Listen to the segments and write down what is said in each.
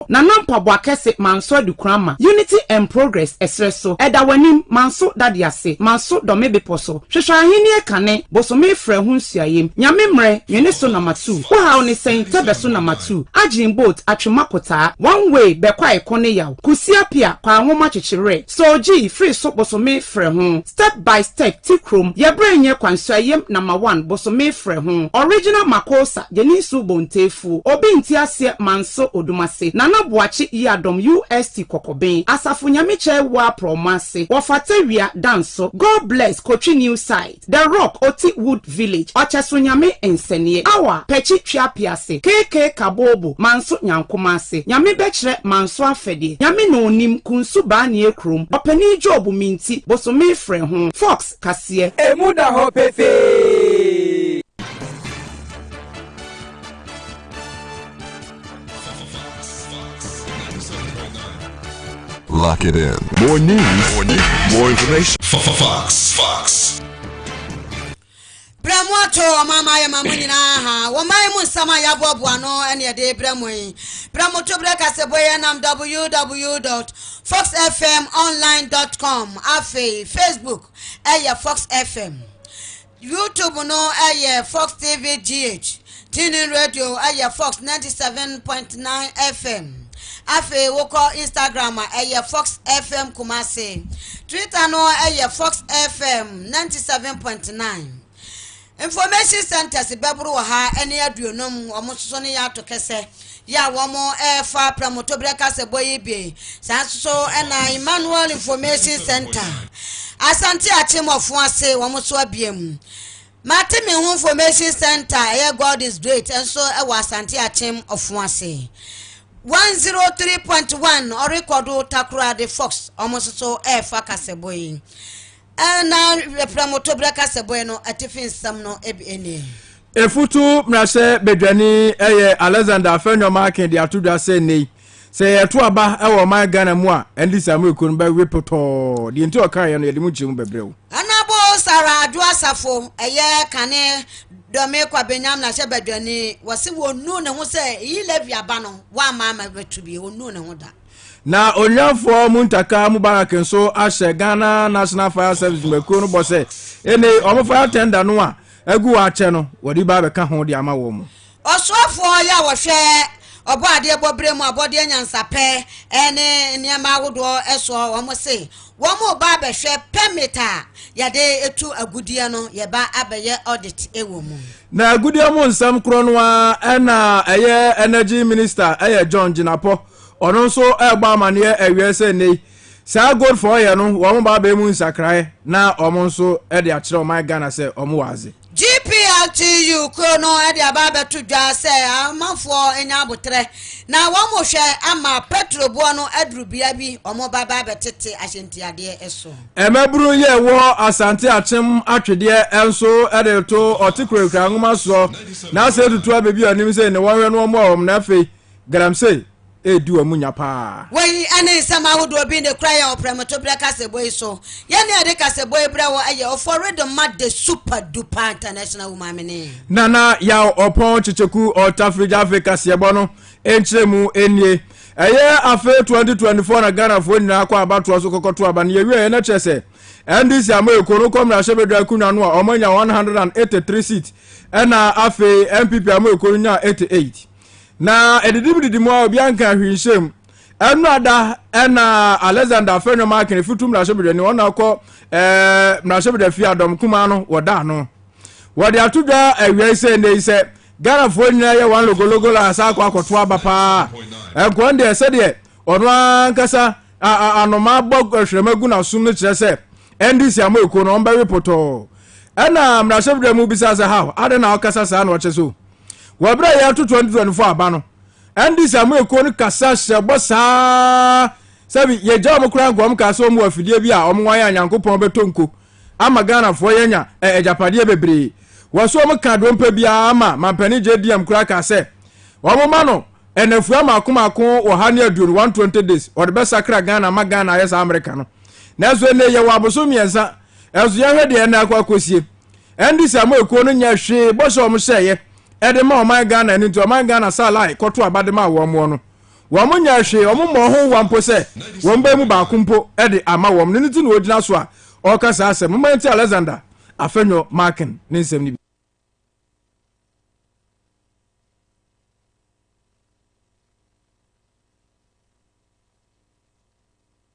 Na na mpaboa kɛse manso adukoraa ma Unity and Progress ɛserɛ so ɛda w'anim manso dade ase manso dɔme bepɔ so hwehwɛ ahennie kane bosome frɛ ho nsuayem Nyame mmerɛ nwene so na matuu wo haw ne sɛn tɛbɛ so na matuu agyen boat atwema kotaa one way bɛ kwae ko ne yaw kusia pia kwaa nwoma kyekyereɛ Sɛ ogyi firi so bosome frɛ ho step by step ti krom yɛ berɛ nyɛ kwansua yam nama one bosome frɛ ho original makosa gyeni nsuo bonteefuo obi nti aseɛ manso odumase nana boakye yiadom ust kɔkɔben asafo nyame kyɛe woa prɔmo ase wɔfata wia danso god bless kotwi new side. The Rock, Oti Wood Village, Ɔkyɛso Nyame Nsɛneɛ, Awa, Pɛkyi Tweape ase, KK Kaboobo, Manso Nyankoma ase, Nyame Bɛkyerɛ, Manso Afɛdeɛ, Nyame Na Onim, Kunsu Baaneɛ Kurom, Ɔpanin Job, Minti, Bosome Frɛ Ho, Fox, Kaseɛ. Emu da hɔ pefee. Lock it in. More news. More news. More information. Fox. Fox. brɛ mu ato ɔma ama yɛ ma mo nyinaa ha wɔman mu nsɛm a yɛaboaboa no ɛne ɛde brɛ mu yi brɛ mo to berɛ kase bɔ yɛ nam www fox fm online com afei facebook ɛyɛ fox fm YouTube no yɛ Fox TV GH, TuneIn Radio yɛ Fox ninety seven point nine FM. Afei wokɔ Instagram a ɛyɛ Fox FM Kumasi. Twitter no yɛ Fox FM ninety seven point nine. Information centers bɛboro wɔ ha ɛne aduonum wɔn nso ne yɛ ato kɛsɛ. yi a wɔrefa Prɛmtoberɛ Kasabɔ yi bi. Saa nso na Emmanuel Information Centre, Asante Akyem Ɔfoase, wɔn nso abie mu. Mate Me Ho Information Centre a ɛyɛ God is Great nso wɔ Asante Akyem Ɔfoase. 103.1 ɔrekɔdo Takoradi Fox, wɔn nso so refa Kasabɔ yi. Na prɛmtoberɛ kasɛbɔeɛ no atifi nsɛm no bi nie. Efutu mmarahyɛ badwani yɛ Alexander Afenwam Akin de ato dwa sɛ nnɛ yi sɛ yɛto aba wɔ ɔman Ghana mu a ɛnde Samuel Kuo no bɛwe potɔɔ. Deɛ nti ɔkaeɛ no yɛde mu nkyerɛmu bɛbrɛ wo. Anabo Sarah Adwo Asafo ɛyɛ Kane Dɔme Kwabenyam mmarahyɛ badwani wɔse wɔnuu ne ho sɛ eyi Levy aba no wɔamma ama bɛto bi wɔnuu ne ho da. Na Onyanfoɔ Muntaka Mubarak nso ahyɛ Ghana National Fire Service dwumakuo no bɔ sɛ enei wɔn fire tender no a agu hɔ akyɛ no wɔde ba abɛka ho de ama wɔn. Ɔsoafoɔ yɛ a wɔhwɛ ɔbɔadeɛ bɔberɛ mu abɔdeɛ nyansapɛ ne nneɛma ahodoɔ soɔ wɔn se wɔn reba abɛhwɛ permit a yɛde tu agudeɛ no yɛba abɛyɛ audit wɔ mu. Na agudeɛ mu nsɛm korɔ no ara na ɛyɛ energy minister ɛyɛ John Jinapor Ɔno nso rebɔ amanneɛ awiei sɛ nnɛyi saa Goldfoɔ yɛ no wɔn ba abɛn mu nsakraeɛ na wɔn nso de akyerɛ ɔman Ghana sɛ wɔn wɔ adze. GPLTU kuro no de aba abɛto dwa sɛ amanfoɔ nya aboterɛ na wɔn hwɛ ama pɛtro boɔ no aduru bea bi wɔn ba ba abɛtete ahyɛntiadeɛ so. Mmabunu yi a ɛwɔ Asante Akyem atwedeɛ nso de reto ɔte kurakura nwoma soɔ na asɛ tutu abɛbi wɔn anim sɛ ne wɔn hwɛ no wɔn a wɔn na afei Galamsey redi wɔn nya paa. Wei ne nsɛm ahodoɔ bi na ɛkura yɛn ɔprɛmtoberɛ kaseɛbɔ yi so. Yɛn na yɛde kaseɛbɔ yi brɛ wo yɛ Ɔfɔ Rhythm ma The Super Duper International Wo Maame ne. Nana Yaw Ɔpɔn Kyekyeku Ɔtafiri Gyafee Kaseɛbɔ no nkyerɛmu nie. Ɛyɛ afe 2024 na Ghanafoɔ nyinaa kɔ abatoɔ so kɔkɔto aba no. Yɛwieɛ no kyerɛ sɛ NDC ama Eko no kɔ mmarahyɛbadwa akonwa no a wɔanya 183 seat ɛna afei NPP ama Eko no nyaa 88. Na ɛdidi mu didi mu a obiara nka hwee nhyɛ mu. Ɛno ada ɛna Alexander afɛ nnwom aken efutu mmarahyɛbedwa ni wɔn na ɔkɔ ɛɛ mmarahyɛbedwa fie adɔm kumaa no wɔ da ano. Wɔde ato dwa awia yi sɛ nnɛ yi sɛ Ghanafoɔ nyinaa yɛ wɔn logologo la asa akɔ akɔto aba paa. Ɛnkɔn deɛ sɛdeɛ ɔno ankasa anoma bɔ hwerɛma gu n'asom no kyerɛ sɛ NDC ama ekuo no wɔn bɛwe potɔɔ. Ɛna mmarahyɛbedwa mu bisa sɛ how adɛn na ɔkasa saa na ɔkyɛ so. Wɔ bere a yɛreto 2024 aba no, NDC ama ekuo no kasa hyɛ bɔ saa sɛ bi yɛgya wɔn koraa nka wɔn kaa sɛ wɔn wɔ afidie bi a wɔn wɔn a Nyankopɔn bɛtɔ nko ama Ghanafoɔ yɛanya ɛ agyapadeɛ bebree. Wɔ so wɔn kaa dompe biara ama Mampanin JDM koraa kaa sɛ wɔn ma no nnafua mmaako mmaako wɔ ha ne aduonu 120 days wɔde bɛsakra Ghana ama Ghana ayɛ saa Amerika no. Nanso ɛnnɛ yɛwɔ abosom mmiɛnsa nso yɛnhwɛ deɛ ɛnna akɔ akɔsie. NDC ama ekuo no nyɛ hwee bɔ sɛ wɔn hyɛeɛ ɛde ma ɔman Ghana ɛno nti ɔman Ghana saa lae kɔto aba de ma wɔn wɔn no wɔn nyɛ hwee wɔn mmɔ ho wa mpo sɛ wɔn bɛn mu baako mpo ɛde ama wɔn no ne ti na wɔgyina so a ɔreka saa asɛm mma nti Alexander Afenyo Markin ne nsɛm no bi.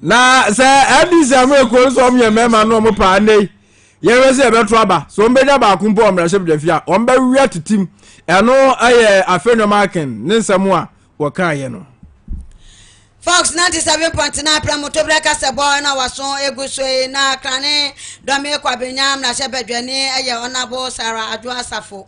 na sɛ ndc amu ekuo nso wɔn yɛ mmarima no wɔn paa nne yɛhwɛ sɛ yɛbɛto aba so wɔn bɛnya baako mpo wɔn mmarahyɛ bidwafi a wɔn bɛwia titim ɛno yɛ afei nneɛma aken ne nsɛm a wɔka yɛ no. fox ninety seven point nine pɛrɛmutobere kasɛbɔ na waso egu so yi na krane dɔmi kwabenya mmarahyɛ badwani yɛ ɔnabo sara adwo asafo.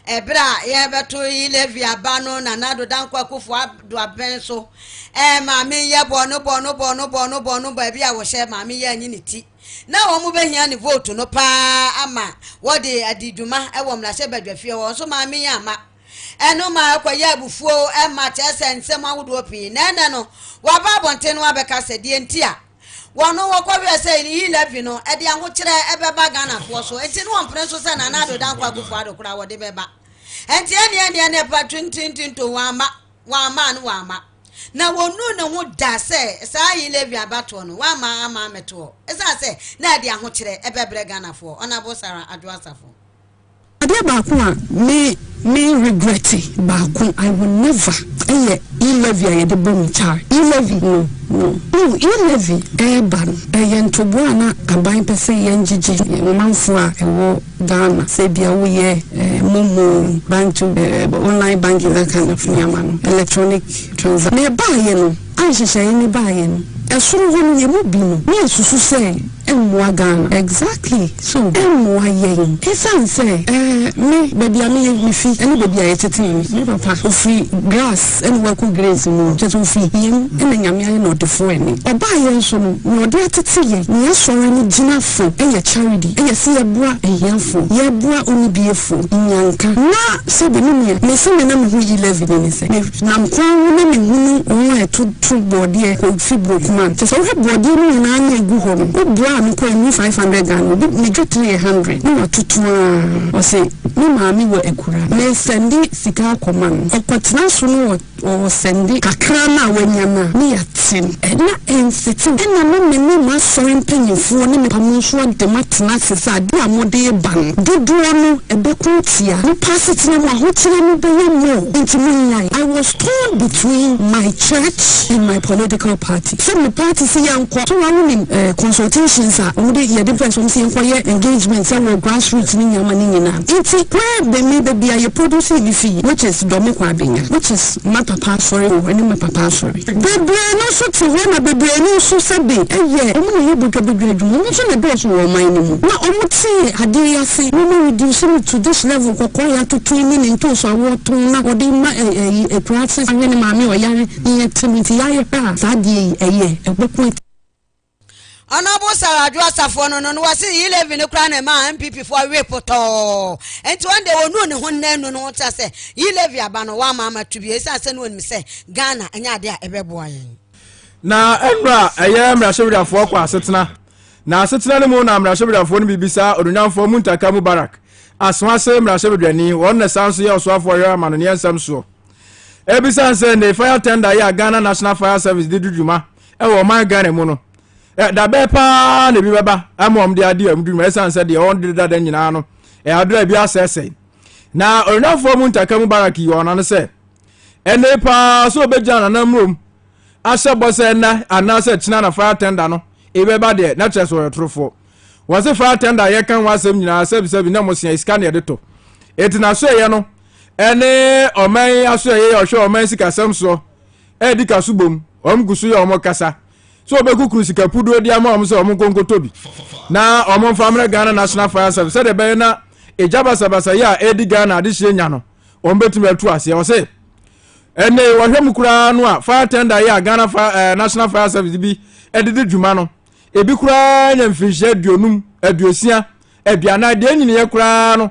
Ɛberɛ a yɛrebɛto yi Levi aba no na Nado Dankwa Akuffo Addo abɛn so. Ɛɛ maame nyɛ bɔno bɔno bɔno bɔno bɔno baabi a wɔhyɛ maame yɛ anyi ne ti. Na wɔn bɛhia ne vote no paa ama wɔde adi dwuma wɔ mmarahyɛ badwafie hɔ nso maame yi amma. Ɛno maa ɛkɔyɛɛ abufuo ma kyerɛ sɛ nsɛm ahodoɔ pii. Na ɛnnɛ no waba abɔnten no abɛka sɛ deɛ nti a. Wɔn no wɔkɔ werɛ sɛ Iyi Levy no de ahokyerɛ bɛba Ghanafoɔ so nti na wɔmpene so sɛ Nana Addo Dankwa Akufo Addo koraa wɔde bɛba. Nti ɛnneɛ ɛnneɛ na ɛpa tintintinto wɔamma, wɔamma ano wɔamma. Na wɔnnuu ne ho da sɛ saa Iyi Levy abatoɔ no wɔamma amma ammɛtoɔ esiane sɛ na ɛde ahokyerɛ bɛbrɛ Ghanafoɔ, Honourable Sarah Adwoa Safo. Adeɛ baako a me me regrette baako I will never ɛyɛ E levy a yɛde bɔ mu char E levy no no wohu E levy ɛɛba no ɛyɛ ntoboa a na aban pɛ sɛ yɛn gyegye yɛn manfoɔ a ɛwɔ Ghana sɛ ebia wo yɛ ɛɛ momo bank to ɛɛ online banking that kind of nneɛma no electronic transa na ɛbaayɛ no a nhyehyɛe no baeɛ no, ɛsoro hɔ no yɛn mu bi no na ɛsusu sɛ ɛmmoa Ghana. Exactly so ɛmmoa yɛn ɛsiane sɛ ɛɛ me baabi a meyɛ me fi ɛne baabi a yɛtetee me me papa ɔfiri grass ɛna wakɔ grace mu kyerɛ sɛ ɔfiri hia mu ɛna Nyame ayɛ no ɔdefoɔ ɛne ɔbaa yɛn so no nea ɔde atete yɛn nea asɔre no gyina fo ɛyɛ charity ɛyɛ sɛ yɛboa ahiafoɔ yɛboa onibiefoɔ nyanka na sɛdeɛ me nua me sɛdeɛ na me ho yi Levy no ne sɛ me Nam kwan ho na mehunu wɔn a ɛto to bɔɔdeɛ kɔ fi Buroku ma. Kyerɛ sɛ, wohwɛ bɔɔdeɛ no nyinaa na ɛgu hɔ no, wo bra a mekɔ yi, mmu five hundred Ghana, obi, ne dwetire yɛ hundred, na watoto ara. Ɔse, me maame wɔ Akura, mesɛnde sika akɔma no, ɔkɔtena so no wɔ, ɔsɛnde kakra no a wanya no a, ne ya. Tim. Ɛna ɛnse tim. Ɛna na me ne m'asɔre mpaninfoɔ ne me pamo nso adem atena ase sɛ adeɛ a mode reba no dodoɔ no ɛbɛko atia nipa asetena mu ahokyerɛ no bɛyɛ more enti monyae. I was torn between my church and my political party sɛ me party se yɛnkɔ so na wonim eh consultations a wɔde yɛde pɛ sɛ wɔn se yɛnkɔ yɛ engagement sɛ wɔ grassroots ne nneɛma no nyinaa enti where be me baabi a yɛ produce me fii which is Dormikwa Abenya which is ma papa asɔre wɔ ɛne ma papa asɔre. Bebree no nso te hɔ na bebree no nso sɛbe ɛyɛ ɔmo na ɛyɛ bodwabodwa adwuma, ɔmo nso na ɛdɔɔso wɔ ɔman no mu. Na ɔmo te adeɛ yi ase, na ɔmo areduce no to this level, kɔkɔɔ yɛatoto ne ne ntoosi a wɔɔtɔn na wɔde ma ɛyi akuraase ahwɛ ne maame a ɔyare ne yɛte no nti yɛayɛ pɛ a saa adeɛ yi ɛyɛ ɛbɛko atia. Ɔno bo sar adwo asafo no no na wɔse yi levy no koraa na ɛmaa npp foɔ we potɔɔ nti wɔn deɛ wɔnuu ne ho nna nu no ho kyerɛ sɛ yi levy aba no wɔama ama to bio ɛsiane sɛ ne wɔnim sɛ Ghana ɛnyɛ adeɛ a ɛbɛboa yɛn na ɛnura ɛyɛ mmarahyɛbadwafoɔ kɔ asetena na asetena no mu na mmarahyɛbadwafoɔ no bibisa ononyamfoɔ mu ntaka mu barak aso ase mmarahyɛbadwani wɔn na san so yɛ ɔsoafoɔ yɛ amanoneɛ nsɛm soɔ ebisan sɛ ne fire tender yɛ a ghana national fire service de dudwuma ɛwɔ ɔman ghana mu no dabɛɛ paa na ebi bɛba ama wɔn de ade a wɔn dwuma ɛsan sɛ deɛ wɔn de dada nyinaa no ɛadura ebi asɛsɛe na ɔrenafoɔ mu ntaka mu barak yi wɔn ano sɛ ɛnne paa so ɔbɛgyina nana mmurom ahyɛ bɔ sɛ ɛna anaasɛ kyena na fire tender no ebi bɛba deɛ na kyerɛ sɛ ɔyɛ torofoɔ wɔn se fire tender a yɛka ho asɛm nyinaa sɛbisɛbi na mo sua sika na yɛde to eti na so ɛyɛ no ɛne ɔman aso ɛyɛ ɔhwɛ ɔman sikasɛm soɔ. redi ka so bom, wɔgu so yɛ wɔn kasa sɛ wɔbɛkukuru sika puduo de ama wɔn sɛ wɔn nkɔ nkɔtɔ bi na wɔn mfa mmerɛ Ghana National Fire Service sɛdeɛ ɛbɛyɛ na ɛgya basabasa yi a ɛredi Ghana adehyeɛ nya no wɔn bɛtumi atu aseɛ wɔ sɛ ɛnne wɔhwɛ mu koraa no a fire tender yi a Ghana fire, eh, National Fire Service bi ɛde di dwuma no ebi koraa nya mfirinhyia aduonum aduosia aduanan deɛ nyiniyɛ koraa no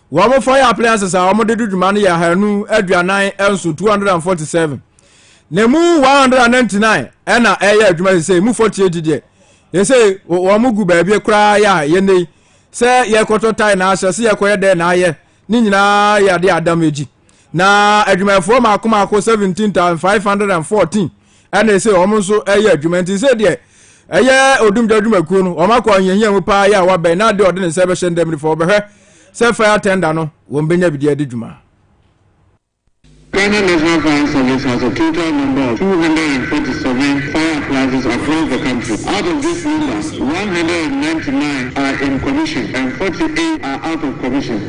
Wɔn fire appliances a wɔde di dwuma no yɛ ahanu aduanan nson, 247. Na emu 199 na ɛyɛ adwuma sɛ emu 48 deɛ ɛsɛ wɔn gu baabi koraa yɛ a yɛnɛ yi sɛ yɛkɔtɔ tae na ahyɛ sɛ yɛkɔyɛ dɛn na ayɛ ne nyinaa yɛ adeɛ adam agyi. na adwumayɛfoɔ mako mako seventeen thousand five hundred and fourteen ɛna ɛsɛ wɔn nso ɛyɛ adwuma nti sɛ deɛ ɛyɛ odumgya adwumakuo no wɔn akɔ ahiahia mu paa yɛ a wabɛn na adeɛ ɔde ne nsa bɛhyɛ ndɛm nifa wɔbɛhwɛ sɛ fire tender no wɔn bɛnya bidie adi dwuma. Ghana National Fire Service has a total number of 247 fire appliances across the country. Out of this number, 199 are in commission and 48 are out of commission.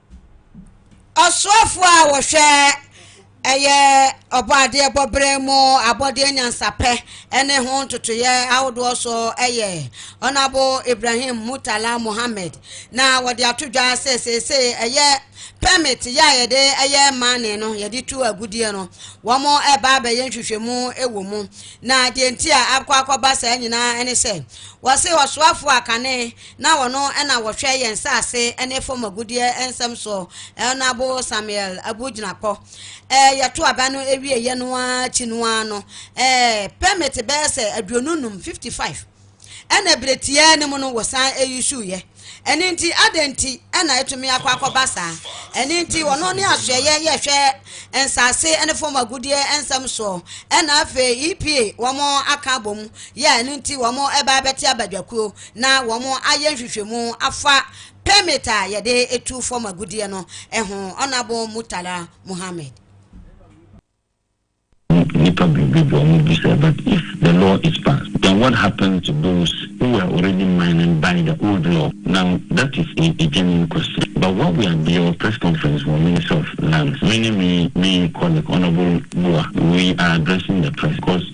Ɔsoafoɔ a wɔhwɛ ɛyɛ ɔbɔadeɛbɔberɛ mu abɔdeɛ nyansapɛ ne ho ntotoeɛ ahodoɔ so yɛ Ɔnabo Ibrahim Murtala Mohammed na wɔde ato dwa sɛ seesei ɛyɛ permit yɛ a yɛde ɛyɛ mane no yɛde tu agudeɛ no wɔn ɛba abɛyɛ nhwehwɛmu wɔ mu na deɛ nti a akɔ akɔba saa nyinaa ne sɛ wɔse ɔsoafoɔ a kane Na wɔno na wɔhwɛ yɛn nsase ne fam agudeɛ nsɛm soɔ. Ɛɔnabo Samuel abu gyinapɔ. Ɛɛ yɛto aba no ewie yɛ no ara akyi no ara no, ɛɛ permit bɛyɛ sɛ aduonu num, 55, ɛna bere tiaa no mu no wɔsan eissue yɛ. Ɛne nti adɛn nti ɛna etumi akɔ akɔba saa? Ɛne nti wɔno ne asoɛyɛ yɛhwɛ nsase ne fam agudeɛ nsɛm soɔ. Ɛna afei EPA wɔn aka abom yɛ ɛno nti wɔn ɛba abɛte abadwakuo. na wɔayɛ nhwehwɛmu afa permit a yɛde tu fam agudeɛ no ho, Honourable Murtala Muhammed. Nnipa bebree bɔ wɔn bu sɛ, but if the law is passed, then what happens to those who were already mining by the old law? Now that is a a genuine question but what we are beyond press conference wɔ Ministry of Lands, me ne me me colleague Honourable Buah we are addressing the press because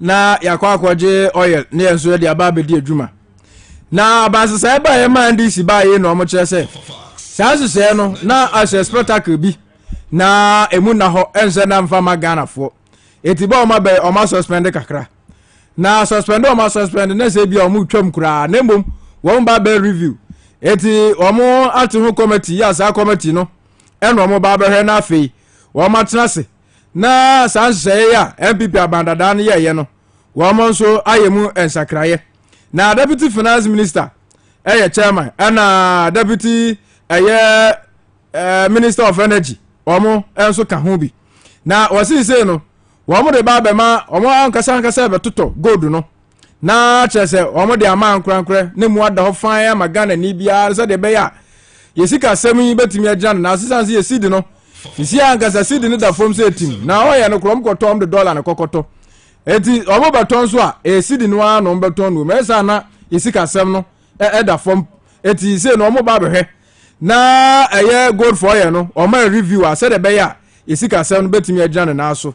na yɛakɔ akɔgye oil ne yɛn nso yɛde aba abɛdi adwuma na abansesaeɛ baa yɛ maa ndc baa yɛ na wɔn kyerɛ sɛ saa nhyehyɛeɛ no na ahyɛ spectacle bi na emu na hɔ ɛnhyɛ na nfa ma ghanafoɔ eti bɔ wɔn abɛyɛ wɔn asuspɛnde kakra na suspɛnde wɔn asuspɛnde na sɛ ebi a wɔn twam koraa na mmom wɔn ba bɛ review eti wɔn ate ho committee yɛ saa committee no ɛna wɔn ba bɛhwɛ na afei wɔn atena ase. na saa nhyehyɛeɛ a npp aban dadaa no yɛeɛ no wɔn nso ayɛ mu nsakraeɛ na deputy finance minister ɛyɛ chairman ɛna deputy ɛyɛ ɛɛ minister of energy wɔn nso ka ho bi na wɔsisei no wɔn de ba abɛma wɔn ankasa ankasa bɛtotɔ gold no Na kyerɛ sɛ wɔn de ama ankorankorɛ na emu ada hɔ fann ama Ghanani biara sɛdeɛ ɛbɛyɛ a yɛn sikasɛm yi bɛtumi agyina no nanso ɛsiane sɛ yɛn cedi no nsi ankasa cedi no da fam sɛ ɛtim na wɔyɛ no korɔ wɔn kɔtɔ wɔn de dɔla no kɔkɔtɔ eti wɔn bɛtɔ nso a ɛyɛ cedi no ara na wɔn bɛtɔn no wɔm ɛyɛ saa na yɛn sikasɛm no ɛda fam eti sei no wɔn ba abɛhwɛ na ɛyɛ gold for yɛn no wɔn ayɛ review a sɛdeɛ ɛbɛyɛ a yɛn sikasɛm no bɛtumi agyina ne nan so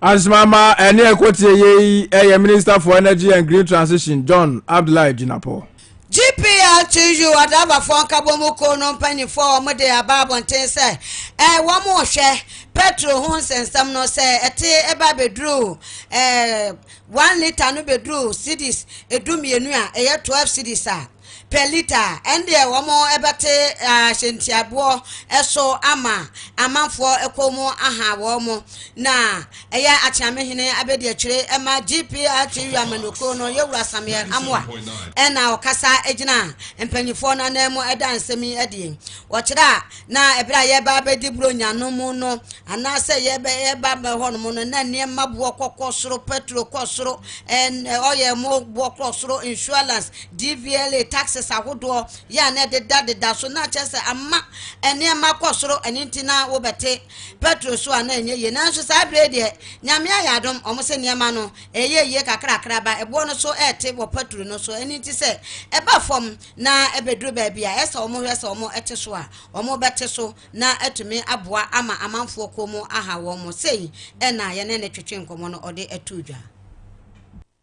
Asemama ɛne ɛkɔteɛ yei ɛyɛ Minister for Energy and Green Transition John Abdullahi Jinapor. GPLTU adrabafoɔ nkabɔmu kuo no mpanimfoɔ a wɔde aba abɔnten sɛ eh, wɔn rehwɛ petro ho nsɛnsɛm no sɛ ɛte ɛba bɛduru eh, one litre no bɛduru cedis edu mmienu a ɛyɛ twelve cedis a per litre a, ɛndeɛ wɔn bɛte ahyɛntiaboɔ so ama amanfoɔ kɔn mu aha wɔn, na ɛyɛ Akyeamehene abɛdiakyire ma GPRT Wiamanokuo no Yɛwura Samuel Amoah ɛna ɔkasa gyina mpanimfoɔ no anan mu ɛda nsɛm yi adie. Wɔkyerɛ a na ɛberɛ a yɛba bɛdi Buronya no mu no, anaasɛ yɛbɛ yɛba bɛ hɔ nom no, na nneɛma boɔ kɔkɔ soro, petro kɔ soro, ɛn ɔyɛ mo boɔ kɔ soro, insurance, DVLA taxes ahodoɔ yɛ a na ɛdedadeda so, na kyerɛ sɛ ama nneɛma kɔ soro, ɛno nti na wobɛte pɛtro so a na ɛnyɛ yie. Nanso saa berɛ yi deɛ, Nyame ayɛ adom, wɔn se nneɛma no ɛreyɛ yie kakrakra ba ɛboɔ no so ɛrete wɔ pɛtro no so, ɛno nti sɛ ɛba fam na ɛbɛduru baabi a ɛsɛ wɔn hwɛ sɛ wɔn te so a, wɔn bɛte so na atumi aboa ama amanfoɔ kɔn mu aha wɔn. Sei na yɛne no twetwee nkɔmmɔ no ɔde too dwa.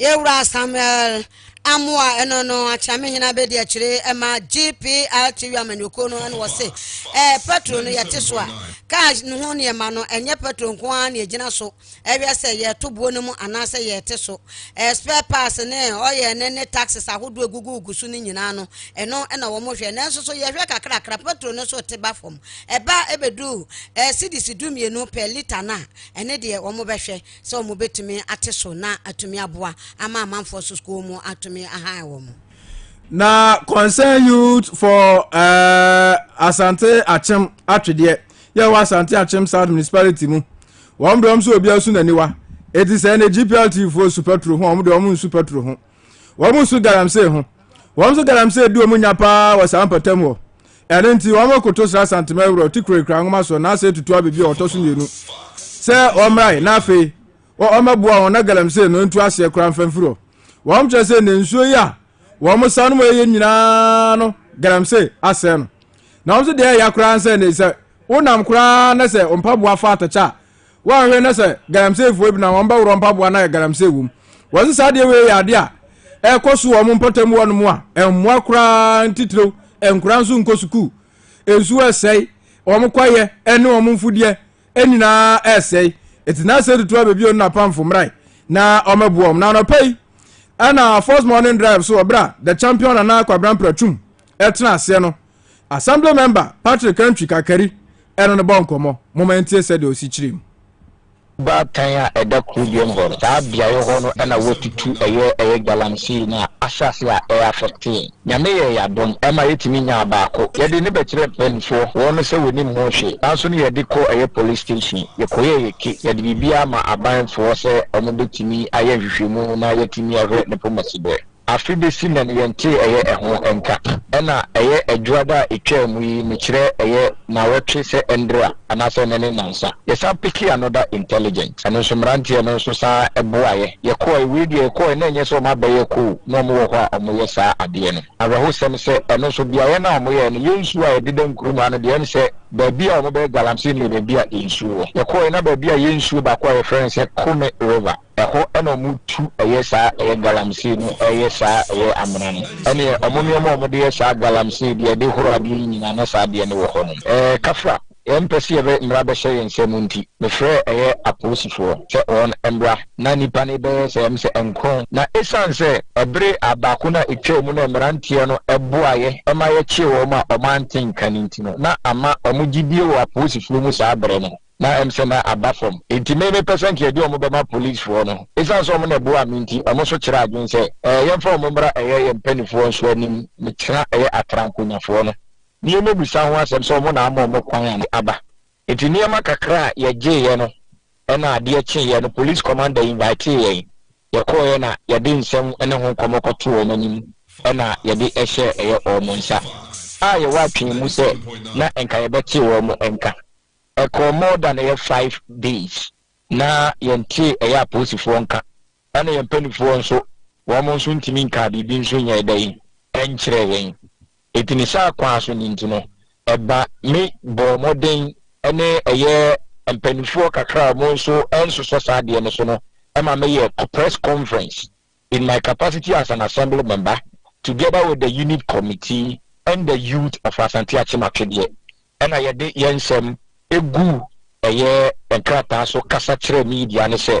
Yɛwura Samuel Amoa ɛno no akyerɛ me hena bɛdi akyire ɛma GPR TV amanyɔkuo no ɛna wɔse ɛɛ petro no yɛte so a kaa no ho nneɛma no ɛnyɛ petro nko ara na yɛgyina so ɛhwɛ sɛ yɛto buo no mu anaasɛ yɛte so ɛɛ spare parts ne ɔyɛ ne ne taxes ahodoɔ egugugu so no nyinaa no ɛno ɛna wɔn hwɛ nanso so yɛhwɛ kakrakra petro no so te ba fam ɛba ɛbɛduru ɛɛ sidisi du mmienu pɛ lita no a ɛne deɛ wɔn bɛhwɛ sɛ wɔbɛtumi ate so na atumi aboa ama amanfoɔ so school mu atumi ahan wɔn. Na concern youth for uh, Asante Akyem atwedeɛ yɛ wɔ Asante Akyem South Municipality mu wɔn brɛ wɔn so obiara so n'aniwa eti sɛ ɛna GPLT foɔ su petro ho wɔn de wɔn nsu petro ho. wɔn nso galamsey ho wɔn nso galamsey di wɔn nya paa wɔ saa mpɔtam hɔ ɛno nti wɔn koto sra santema awura ɔte kurakura nwoma soɔ na asɛ tutu abebi a ɔtɔ so mmienu sɛ ɔmmrae na afei ɔmmɛboa wɔn na galamsey no ntu aseɛ koraa mfamfiri hɔ wɔn kyerɛ sɛ ne nsuo yi a wɔn sa no mu ɛyɛ nyinaa no galamsey asɛe no na wɔn nso deɛ ɛya koraa sɛ ne sɛ wonam koraa na sɛ mpaboa fa atɛkyɛ a Woanhwɛ na sɛ galamsey foɔ bi na wɔn bɛworɔ mpaboa na yɛ galamsey wɔ mu. Wɔn saa adeɛ wei yɛ adeɛ a ɛkɔ so wɔ wɔn mpɔtam wɔ nom a ɛmmoa koraa ntitiriw nkora nso nkɔ sukuu. Nsuo ɛsɛe, wɔn kwaeɛ ɛne wɔn mfudeɛ ɛnyinaa ɛsɛe. Ɛti na sɛ tutu abɛbi wɔn na pamfo mmrae na wɔn ɛboɔ wɔn. Na anɔpa yi ɛna first morning drive so wɔ berɛ a the champion nana kwabra mpratwum ɛtena aseɛ no Assembly Member Patrick Antwi Kakari ne no bɔ nkɔmmɔ. Momma yɛntie sɛdeɛ ɔsi kyerɛ mu. Baatan a ɛda kuro biam hɔ no, saa beaeɛ hɔ no na wɔatutu ɛyɛ ɛyɛ galamsey no a ahyɛ ase a ɛ affect yɛn. Nyame yɛɛ yɛn adom ma yɛtumi nyaa baako. Yɛde no bɛkyerɛɛ mpaninfoɔ, wɔn no sɛ wɔnim ho hwee. Nanso no yɛde kɔɔ ɛyɛ police station, yɛkɔyɛɛ yɛ ke, yɛde biribiara maa abanfoɔ sɛ wɔbɛtumi ayɛ nhwehwɛmu na yɛatumi ahwɛ ne poma si berɛ. Afe besi na yɛntee ɛyɛ ɛho nka. Ɛna ɛyɛ adwuada a etwaa mu yi mekyerɛ ɛyɛ naawɔtwe sɛ ɛndra anaasɛ ɛnɛ ne nansa. Yɛsan pekee another intelligent. Ɛno nso mmeranteɛ no nso san boaeɛ. Yɛkɔɔɛ, wei deɛ yɛkɔɔɛ na ɛnyɛ sɛ wɔn abɛyɛ koo na wɔn wɔ hɔ a wɔn yɛ saa adeɛ no. Awerɛhosɛm sɛ ɛno nso beaeɛ no a wɔn yɛɛ no yɛn nsuo a yɛdeda Nkrumah no deɛ ɛne sɛ baabi a wɔn bɛyɛ galamsey no yɛ baabi a nsuo wɔ. Yɛkɔɔɛ na baabi a yɛn nsuo baako a yɛfrɛ no sɛ Kome River. Ɛhɔ na ɔmo tu ɛyɛ saa ɛyɛ galamsey no ɛyɛ saa ɛyɛ amena no ɛneɛ ɔmo nnoɔma a ɔmo de yɛ saa galamsey deɛ ɛde horo adeɛ no nyinaa na saa adeɛ no wɔ hɔ nom ɛɛ kafra yɛn mpɛ sɛ yɛbɛ mmra bɛhyɛ yɛn nsa mu nti me frɛɛ ɛyɛ apolisifoɔ sɛ wɔn mmra na nnipa no bɛyɛ sɛ ɛm sɛ nkron na ɛsiane sɛ ɛbere a baako no a ɛtwaa mu no mmeranteɛ no boaeɛ ɛma yɛkyee wɔn a ɔmo ante nka no nti no na ama ɔmo gyidie wɔ apolisifoɔ mu saa bere no. na ɛm sɛ na aba fam nti me me pɛ sɛ nka yɛde wɔn bɛma police foɔ no ɛsiane sɛ wɔn na ɛboaa me nti wɔn nso kyerɛ adwene sɛ ɛɛ yɛmfa wɔn mmra ɛyɛ yɛn mpanifoɔ nso anim mekyerɛ ɛyɛ atrankonyafoɔ no ne yɛn mɛbisa ho asɛm sɛ wɔn na ama wɔn kwan a ne aba nti nneɛma kakra a yɛgyeeɛ no ɛna adeɛ kyeeɛ no police commander invitee yɛn yɛkɔɔeɛ na yɛde nsɛm ne ho nkɔmmɔ kɔto wɔn anim ɛna yɛde ɛhyɛɛ ɛyɛ wɔn nsa a yɛwɔ atwene mu sɛ na nka yɛbɛte wɔn nka. Ɛkɔɔ more than ɛyɛ five days na yɛntee ɛyɛ apolisifoɔ nka ɛna yɛn mpanifoɔ nso wɔn nso ntumi nkaa biribi nso nyɛɛ dɛn ɛnkyerɛɛ yɛn enti ne saa kwan so ne nti no ɛba me bɔɔ mmɔden ɛne ɛyɛ mpanifoɔ kakra a wɔn nso ɛnsosɔ saa adeɛ no so no ɛma meyɛ press conference in my capacity as an assembly member together with the unit committee and the youth of Asante Akyem Atwedeɛ ɛna yɛde yɛn nsɛm egu ɛyɛ nkrataa so kasa kyerɛ media no sɛ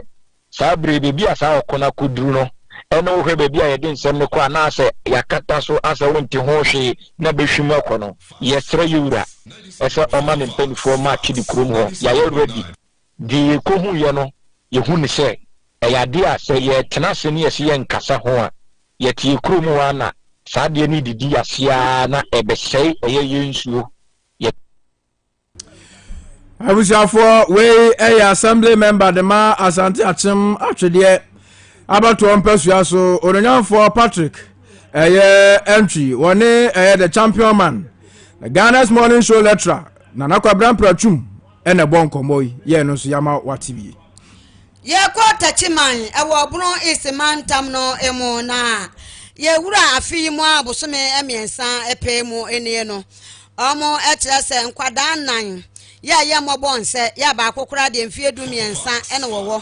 saa bere yi baabi a saa ɔko no akɔduru no ɛne wohwɛ baabi a yɛde nsɛm no kɔ anaasɛ yɛakata so asɛ wonte ho hwee na bɛhwim akɔ no yɛsrɛ yɛn wura sɛ ɔma ne mpanimfoɔ ma Atwede kurom hɔ yɛayɛ ready Deɛ yɛkɔhuiɛ no, yɛhu no sɛ ɛyɛ adeɛ a sɛ yɛtena ase ne yɛse yɛnkasa ho a, yɛteɛ kuro mu a na saa adeɛ no redidi aseɛ ara na ɛbɛsɛe ɛyɛ yɛn nsuo, yɛ. abusuafoɔ wei ɛyɛ assembly member de ma asante akyem atwedeɛ abatoɔ mpasua so ononyanfoɔ patrick ɛyɛ ɛntwi wɔne ɛyɛ the champion man ghana's morning show lecturer nana kwabra mpratwum Ɛna ɛbɔ nkɔmmɔ yi yɛ ɛno nso yɛama wate wie. Yɛkɔ Takyi man ɛwɔ Obro East mantam no mu na yɛwura afe yi mu a bosome mmiɛnsa pɛɛ mu nie no. Ɔmo kyerɛ sɛ nkwadaa nnan yɛ a yɛ mmɔbɔ nsɛ yɛ a baako koraa deɛ mfie du mmiɛnsa na wɔwɔ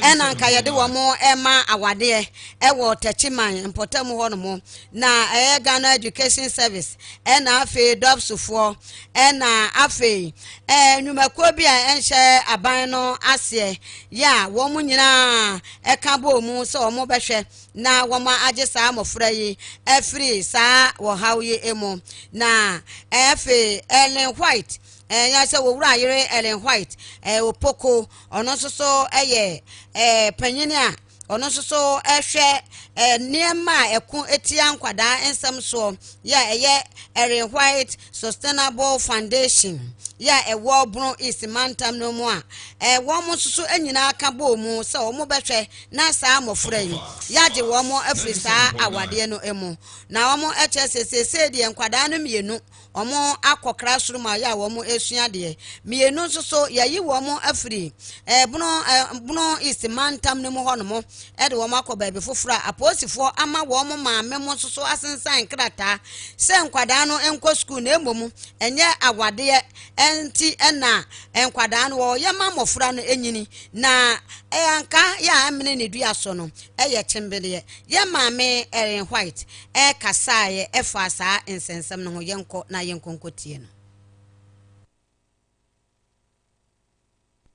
ɛna nka yɛde wɔn ɛma awadeɛ ɛwɔ Takyi man mpɔtam hɔ nom na ɛyɛ Ghana Education Service ɛna afei dɔpsofoɔ ɛna afei ɛɛ nnwumakuo bi a ɛnhyɛ aban no aseɛ yɛ a wɔn nyinaa ɛka bɔɔ mu sɛ wɔn bɛhwɛ na wɔn agye saa mmɔfra yi afiri saa wɔhaw yi mu na afei Ellen White ɛyɛ sɛ wɔwura ayere Ellen White ɛɛ Opoko ɔno nso so ɛyɛ ɛɛ panyin a ɔno nso so hwɛ eh, nneɛma a ɛko tia nkwadaa nsɛm soɔ yɛ a ɛyɛ Erin White Sustainable Foundation yɛ a ɛwɔ Bono East mantam no mu a eh, wɔn nso so nyinaa ka bɔɔ mu sɛ wɔn bɛhwɛ na saa mmɔfra yi yɛagye wɔn afiri saa awadeɛ no mu na wɔn kyerɛ sɛ seesei deɛ nkwadaa no mmienu wɔakɔkra soro mu a yɛ a wɔresua adeɛ. Mmienu nso so, yɛayi wɔn afiri ɛbono eh, eh, bono east mantam no mu hɔnom de wɔn akɔ baabi foforɔ a apolisifoɔ ama wɔn maame mo nso so asensan krataa sɛ nkwadaa no nkɔ sukuu na mmom ɛnyɛ awadeɛ nti na nkwadaa no wɔyɛ ma mmɔfra no nyini na ɛyɛ anka yɛ a ɛmene ne dua so no ɛyɛ kyembedeɛ yɛ maame Ellen White ɛkasaeɛ ɛfaa saa nsɛnsɛm no ho, yɛnkɔ na yɛnkɔ nkɔ tie no.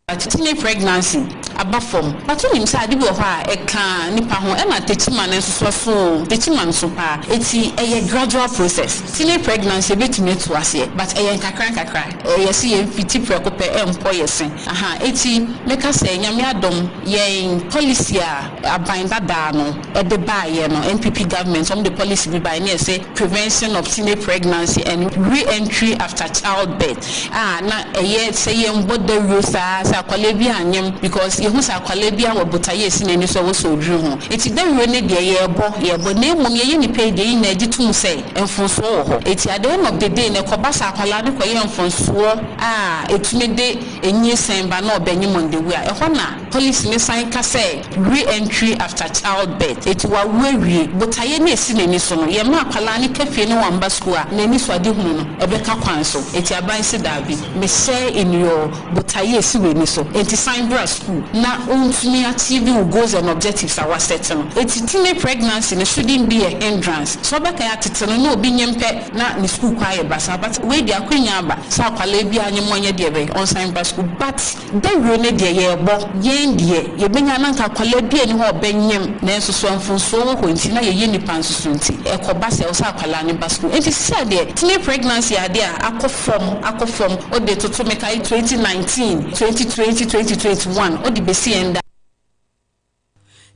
Tetime pregnancy aba fam but wonim sɛ ade bi wɔ hɔ a ɛka nipa ho ɛma tetima no nsosɔ so oo tetima nso paa eti ɛyɛ gradual process tine pregnancy ebetumi atu aseɛ but ɛyɛ nkakra nkakra ɛyɛ sɛ yɛn fiti prɛko pɛ ɛmpɔ yɛ se ahaa eti mɛka sɛ nyame adom yɛn policy a aban dadaa no de baeɛ no NPP government wɔn de policy bi baeɛ ne yɛse prevention of teenage pregnancy and re-entry after child birth a na ɛyɛ sɛ yɛn bɔ dawuro saa sɛ akwadaa bi anyem because yɛhu sɛ akwadaa bi awɔ botaeɛ ɛsi n'ani so ɔwɔ sɛ ɔduru ho ɛti dawuro no deɛ yɛbɔ yɛbɔ na mmom yɛyɛ nnipa yi deɛ yɛn nyinaa gye tum sɛ mfonsoɔ wɔ hɔ ɛti at the end of the day no ɛkɔba sɛ akwadaa no kɔyɛ mfonsoɔ a ɛtumi de nyinsɛn ba na ɔbɛnyem on the way a ɛhɔ na Police no san ka sɛ, Re-entry after childbirth, enti wawo awie. Botaeɛ no a ɛsi n'ani so no, yɛmma akwadaa no ka fie na wamma sukuu a, n'anisoadehunu no, ɛbɛka kwan so. Enti aban se daabi. Mehyɛ nnuyɔɔ, botaeɛ a ɛsi w'ani so, enti san bra sukuu na wontumi achieve wo goals and objectives a woasɛte no. Enti teenage pregnancy no shouldn't be a hindrance. Sɛ wobɛka a, tete no na obi nyem pɛ na ne sukuu kɔ ayɛ basaa, but wei deɛ akwanya aba sɛ akwadaa biara nyem ɔnyɛ deɛ ɛbɛyɛ ɔnsan bra sukuu. But. Dawuro no deɛ yɛɛbɔ yɛn deɛ yɛbɛnya na nka akwadaa bi a ɛni hɔ a ɔbɛnyem nanso so mfomsoɔ wɔ hɔ nti na yɛyɛ nnipa nso so nti ɛkɔba sɛ ɛwɔ sɛ akwadaa no ba sukuu nti sisa deɛ tine pregnancy adeɛ a akɔ fam akɔ fam ɔde toto mekae twenty nineteen twenty twenty twenty twenty one ɔde bɛsi ɛnda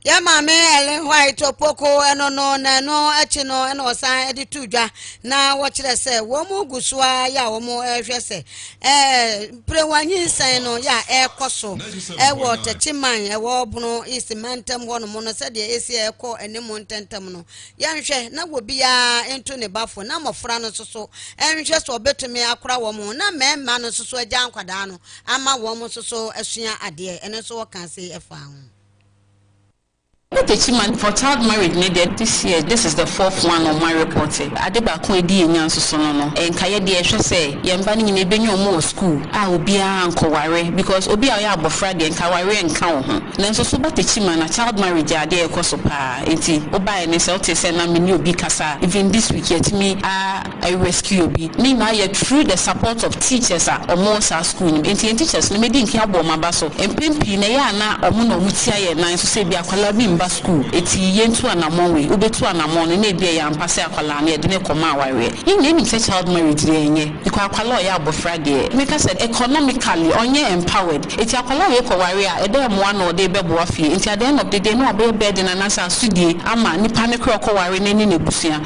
Yɛn maame Ellen White Opoku ɛno no na ɛno akyi no ɛna ɔsan de to dwa na wɔkyerɛ sɛ wɔn gu so a yɛ a wɔn ɛrehwɛ sɛ ɛɛ mperewa nyinsɛn no yɛ a ɛrekɔ so ɛwɔ Tɛkyiman ɛwɔ Bono East mantam hɔnom no sɛdeɛ esi ɛrekɔ anim ntɛntɛm no yɛnhwɛ na wɔbiara nto ne bafo na mmɔfra no nso so ɛnhwɛ sɛ ɔbɛtumi akora wɔn ho na mmarima no nso so agya nkwadaa no ama wɔn nso so asua adeɛ ɛno nso wɔka se ɛfa ho. Ɔtachi ma for child marriage ne deɛ this year this is the fourth one on my report ade baako a ɛdi yɛn nya nsoso no no nka yɛ deɛ hwɛ sɛ yɛn mma no nyinaa ɛbɛnya wɔn wɔ school a obiara nkɔ ware because obi a ɔyɛ abɔfra deɛ nka awareɛ nka wo ho nanso so ba tachi ma na child marriage yɛ adeɛ a ɛkɔ so paa nti wo baeɛ no sɛ wo tee sɛ na me ne obi kasa even this week yɛtumi a I rescue obi ne nyinaa yɛ through the support of teachers a wɔn wɔ saa school no mu nti yɛn teachers no medi nkan abɔ wɔn aba so mpɛn pii no ɛyɛ a na wɔn na wɔn tia yɛn nan so sɛ ebi akwadaa bi mma school eti yɛn tu anamɔn wei wo bɛ tu anamɔn no na ebi ɛyɛ ampa sɛ akwadaa no yɛde no rekɔ ma awareɛ yɛn nyinaa nim sɛ child marriage deɛ ɛnyɛ because akwadaa a ɔyɛ abɔfra deɛ me ka sɛ economically ɔnyɛ empowered eti akwadaa a ɔyɛ kɔ wareɛ a ɛdɛn mmoa na ɔde bɛ boa fie nti at the end of the day na wabɛyɛ burden anaa sɛ asodie ama nipa no kora ɔkɔ ware no ne n'abusua.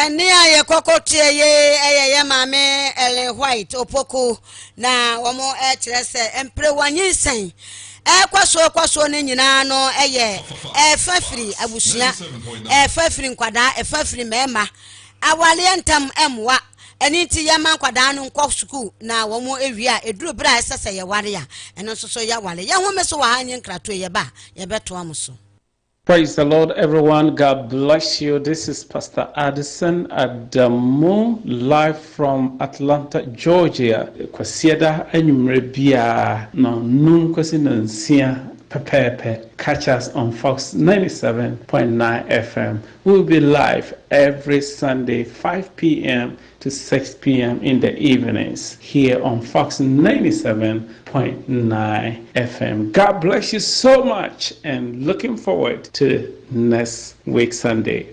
Ɛnne a yɛkɔkɔ teɛ ye yɛ yɛ maame Ellen White Opoku na wɔkyerɛ sɛ mperewa nyinsɛn ɛkɔ so ɛkɔ so no nyinaa no yɛ ɛfa firi abusua, ɛfa firi nkwadaa, ɛfa firi mmarima, awaleɛ ntam mmoa. Ɛno nti yɛma nkwadaa no nkɔ sukuu na wɔn awie a ɛduru berɛ a ɛsɛ sɛ yɛware a ɛno nso so yɛware. Yɛhome so wɔ ha nye nkratoɔ yɛba a yɛbɛtoa mo so. Praise the Lord everyone God bless you this is pastor Addison Adamu live from Atlanta Georgia Kwasiada anwummerɛ biara no num kɔsi no nsia pɛpɛɛpɛ catch us on Fox 97.9 FM we will be live every Sunday 5 pm to six PM in the evenings here on Fox ninety seven point nine FM God bless you so much and looking forward to next week Sunday.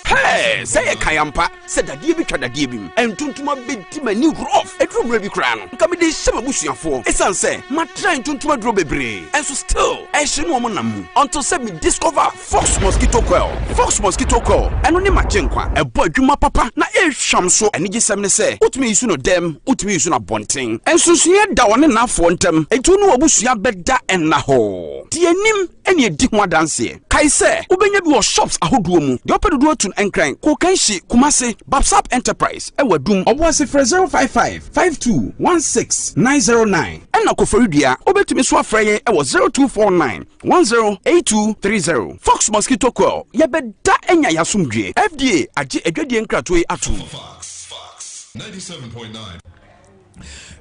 Hey, sɛ yɛ kan ampa sɛ dadeɛ bi twa dadeɛ bi mu ntontoma bɛdi m'ani rof ɛduru mmerɛ bi koraa no nka mede hyɛ m'abusuafoɔ ɛsiane sɛ matra ntontoma duro bebree ɛnso still ɛhye no ɔmo nam mu ɔnto sɛ me discover Fox Mosquito Coil, Fox Mosquito Coil, Ɛno ne m'Agyenkwa. Ɛbɔ adwuma papa na ehwam so. Anigyesɛm ne sɛ, wotumi yi so no dɛm, wotumi yi so no abɔnten. Nsonsonoeɛ da ɔne n'afoɔ ntam, enti wo ne w'abusua bɛda nna hɔ. Di anim na di ho adanseɛ. Kae sɛ, wobɛnya bi wɔ shops ahodoɔ mu. Deɛ wopɛ dodoɔ atu no, Nkran, Kokanshi, Kumasi, Babsap Enterprise wɔ Adum. Ɔboase frɛ 055 52 16 909. Ɛna Koforidua, wobɛtumi nso afrɛ yɛn wɔ 0249 One zero eight two three zero Fox mosquito coil yɛbɛda anya yɛ asomdwie FDA agye adwadie nkratoɔ yi ato mu.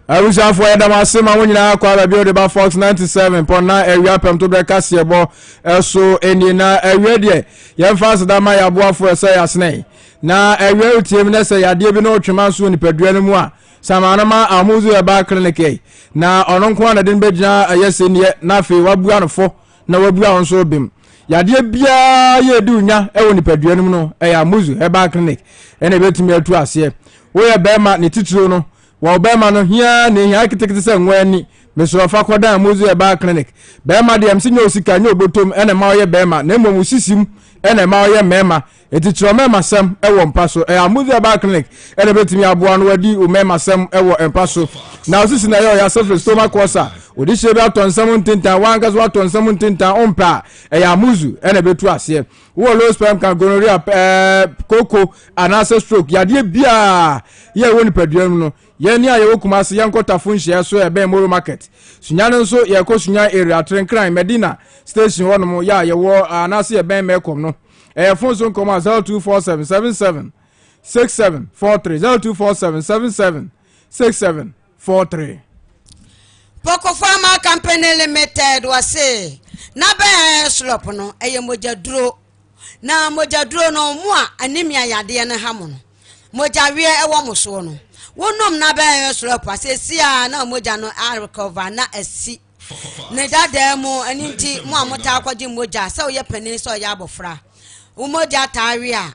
abusuafoɔ yɛda mo ase ma mo nyinaa kɔ aba bio de ba fox 97 pɔ na awia pɛm to berɛ kaseɛ bɔ ɛso ɛnie na awia deɛ yɛmfa aseda ma yɛaboafoɔ ɛsɛ yɛasenɛ na awia wotiam na sɛ yadeɛ bi ne wotwema nso wɔ nipadua no mu a Sama no ma Amuzu herbal clinic yɛe, na ɔno nko ara na de no bɛgyina ɛyɛ se neɛ, na afei wabua no fɔ na wabua wo nso bem. Yadeɛ biara yɛ edi onya wɔ nipadua no mu no, ɛyɛ Amuzu herbal clinic ɛna ɛbɛtumi atu aseɛ. Woyɛ bɛrima ne titiriw no, wɔ wo bɛrima no hiaa na ehia ketekete sɛ nwa ani, mesrɛ wo fa kɔdan Amuzu herbal clinic. Bɛrima deɛ mse nyɛ osika, nyɛ obotom ɛna ɛma ɔyɛ bɛrima, na mmom wo sisim ɛna ɛma ɔyɛ mɛrima, Enti kyerɛw mmarmasɛm wɔ mpa so. Ɛyɛ a Muzi Herbal Clinic na ebetumi aboa no wadi wo mmarmasɛm wɔ mpa so. Na osisi na ɛyɛ ɔyase firi stomach ulcer. Wode hyɛ bi atɔ nsam ntintan, w'ankasa woatɔ nsam ntintan, wompɛ a, ɛyɛ a Muzu na ebetu aseɛ. Wowɔ low sperm count, gonorrhea, ɛɛ, kooko anaasɛ stroke, yadeɛ biara yɛ ɛwɔ nipadua mu no, yɛn a yɛwɔ Kumasi, yɛnkɔ Tafo nhyiaeɛ so a ɛbɛn Moro Market. Sunyani nso, yɛkɔ Sunyani area, Trenkran, Medina station hɔnom yɛ a yɛwɔ anaasɛ yɛbɛn Mɛkɔm no. ɛyɛ fon so nkɔmɔ a zero two four seven seven seven six seven four three zero two four seven seven seven six seven four three. Poco Pharma Company Limited wɔse n'abɛn slop no ɛyɛ mogyaduro na mogyaduro no mo a anemia yadeɛ no ha mo no mogyaweɛ ɛwɔ mo soɔ no wonom n'abɛn slop a sɛsi a na mogya no arekɔva na asi ne dadaa mu ɛno nti mo a motaa kɔgye mogya sɛ woyɛ panin sɛ ɔyɛ abɔfra wo mogya taa we a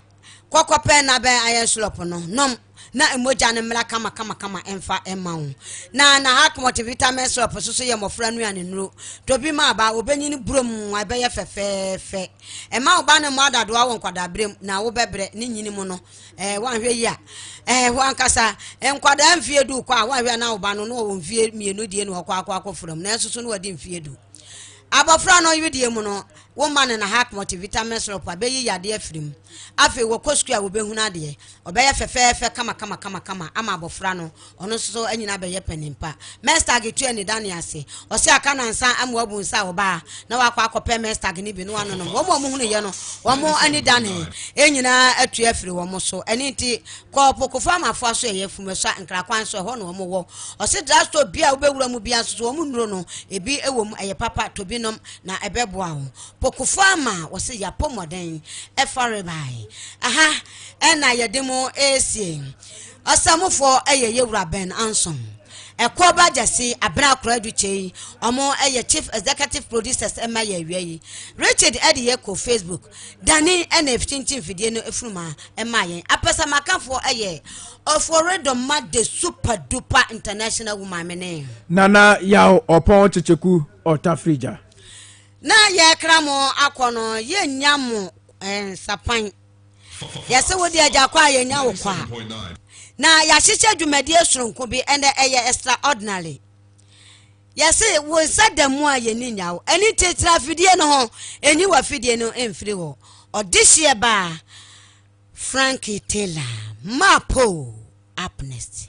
kɔkɔ pɛ na bɛn ayɛ nsolɔpo no nom na mogya no mmra kamakamakama ɛmfa ɛma wo na na heart multivitamin syrup so so yɛ mmɔfra nnuane nnuro tɔ bi ma aba wobɛnyini burom ɛbɛyɛ fɛfɛɛfɛ ɛma wo ba no mmɔ adadoa wɔ nkwadaaberɛm na wobɛbrɛ ne nyini mu no Ɛɛ, woanhwɛ yie a, ɛɛ, hɔ ankasa, nkwadaa mfie du kɔ a, woanhwɛ a na wo ba no na ɔwɔ mfie mmienu die na ɔkɔ akɔ akɔ fura mu, nanso so na wadi mfie du. Abɔfra no wedeɛ mu no, wo mma no na hack multivitamin syrup a bɛyi yadeɛ afiri mu. Afei wɔkɔ sukuu a wɔbɛhunu adeɛ, ɔbɛyɛ fɛfɛɛfɛ kama kama kama kama ama abɔfra no Ɔno nso so anyini abɛyɛ panin pa. Mestag tua ne dane ase. Ɔse aka nansa ama wabu nsa a ɔbaa na wakɔ akɔpɛ mestag no bi na wanonom. Wɔn a wɔhunuiɛ no, wɔn ani danee. Yɛn nyinaa atu afiri wɔn so. Ɛno nti, kɔ Opokofoɔ Amafoa so ɛyɛ Fumeswa Nkrakwan so, ɛhɔ na wɔn wɔ. Ɔse drugstore biara a wobɛwura mu biara nso so wɔn nnuro no, ebi wɔ mu, ɛyɛ papa, tɔ bi nom na ɛbɛboa wo. Pokofoɔ Ama, wɔse yɛapɔ mmɔden ɛfa rebae. Aha na yɛde mo resie. Ɔsamufɔɔ yɛ Yewura Ben Anson. Ɛkuo ba gyɛse Abena Akoraadu Kyei ɔmo yɛ Chief Executive Producers ma yɛ awia yi. Richard de yɛ kɔ Facebook. Danny na ɛfkyinkyin fidie no funuma maa yɛn. Apɛsɛmakafoɔ yɛ Oforedoma the Super Duper International Woman me ne. Nana Yaw Ɔpɔn Kyekyeku Ɔtafrigya. Na yɛkra mo akɔ no yɛnnya mo nsapan. Yɛse wo deɛ gya kɔ a yɛnya wo kɔ a. Na yɛahyehyɛ dwumadie soronko bi ɛnɛ ɛyɛ extraordinary. Yɛse wo nsa da mu a yɛni nya wo. Ɛni nti tra afidie no ho, ɛnyi w'afidie no mfiri hɔ. Ɔdehyeɛ baa Frankie Taylor, Mapo, up next.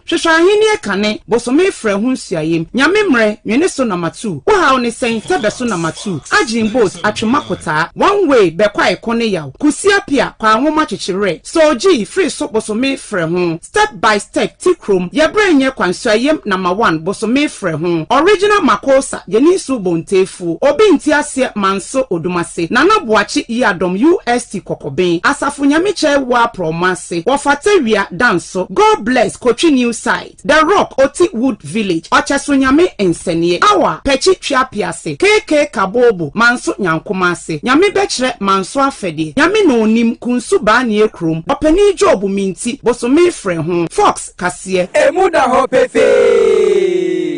Hwehwɛ Ahenni kane, bosome frɛ ho nsuaem, Nyame mmerɛ, nwene so na matu, wo haw ne sɛn, tɛ bɛ so na matu, agyen boss, atwema kotaa, one way, bɛ kwae ko ne yaw, kusi apia, kwa nwoma kyekye werɛ, soul gyii, firi so bosome frɛ ho, step by step, ti krom, yɛ berɛ nyɛ kwa nsuaem, number one, bosome frɛ ho, original makossa, yɛni nsuo bontee fo. Fo, Obi nte aseɛ Manso Odomase, Nana Boakye Yiadom UST Kɔkɔben, Asafo Nyamekyɛe Waa Prɔmo Ase, Wɔfata Wia, Danso, God Bless, Kotwi New Site, The Rock, Oti Wood Village, Ɔkyɛso Nyame Nsɛneɛ, Awa, Pɛkyi Tweapease, KK Kaboobo, Manso Nyankoma Ase, Nyame Bɛkyerɛ, Manso Afɛdeɛ, Nyame Na Onim, Kunsu Baaneɛ Kurom, Ɔpanin Job Minti, Bosome Frɛ Ho, Fox, Kaseɛ. Emu da hɔ pefee.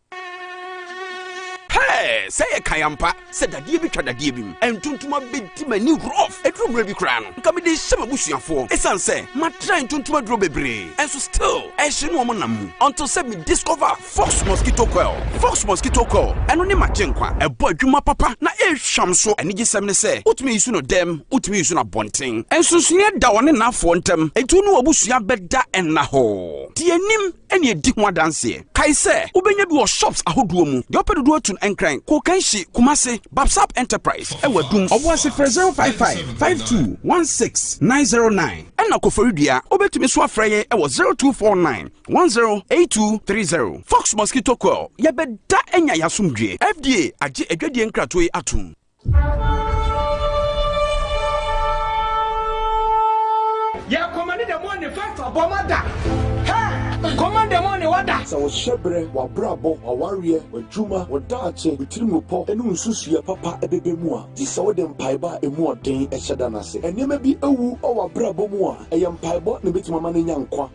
Hɛɛ! Sɛ ɛyɛ kan ampa sɛ dadeɛ bi twa dadeɛ bi mu. Ntontoma bɛdi m'ani rough. Ɛduru mmerɛ bi koraa no, nka mede rehyɛ m'abusuafoɔ ɛsiane sɛ matra ntontoma aduro bebree. Nso still ɛhye no wɔn nam mu until sɛ me discover Fox Mosquito Coil. Fox Mosquito Coil, ɛno ne m'agyenkwa. Ɛbɔ adwuma papa na ɛrehwam nso. Anigyesɛm ne sɛ wotumi use no dɛm, wotumi use no abɔnten. Nsonsonoeɛ da ɔne nnafoɔ ntam, enti wo ne w'abusua bɛda nna hɔ. Deɛ ɛnim. ɛneɛ di ho adanseɛ. Kae sɛ wobɛnya bi wɔ shops ahodoɔ mu. Deɛ ɔpɛ dodoɔ tu no Nkran, Kokanshi, Kumasi, Babsab Enterprise ɛwɔ Adum. Ɔboase frɛ 055 52 16 909. Ɛna Koforidua wobɛtumi nso afrɛ yɛn ɛwɔ 0249 10 8230. Fox Mosquito Coil, yɛbɛda anya yɛn asomdwoeɛ. FDA agye adwadie nkratoɔ yi atom. Yɛ kɔmande dɛ mɔ ne fa fa bɔ ma da hɛ kɔmande mɔ ne wa da. Sɛ wo hyɛberɛ, w'abrabɔ, w'awareɛ, w'adwuma, wo daakye, wo tirimupɔ ne wo nsusuiɛ papa bɛba mu a, gye sɛ wode mpaebɔ a ɛmu ɔden hyɛ da no ase. Nneɛma bi awu wɔ w'abrabɔ mu a, ɛyɛ mpaebɔ na ɛbɛtumi ama no anya nkwa.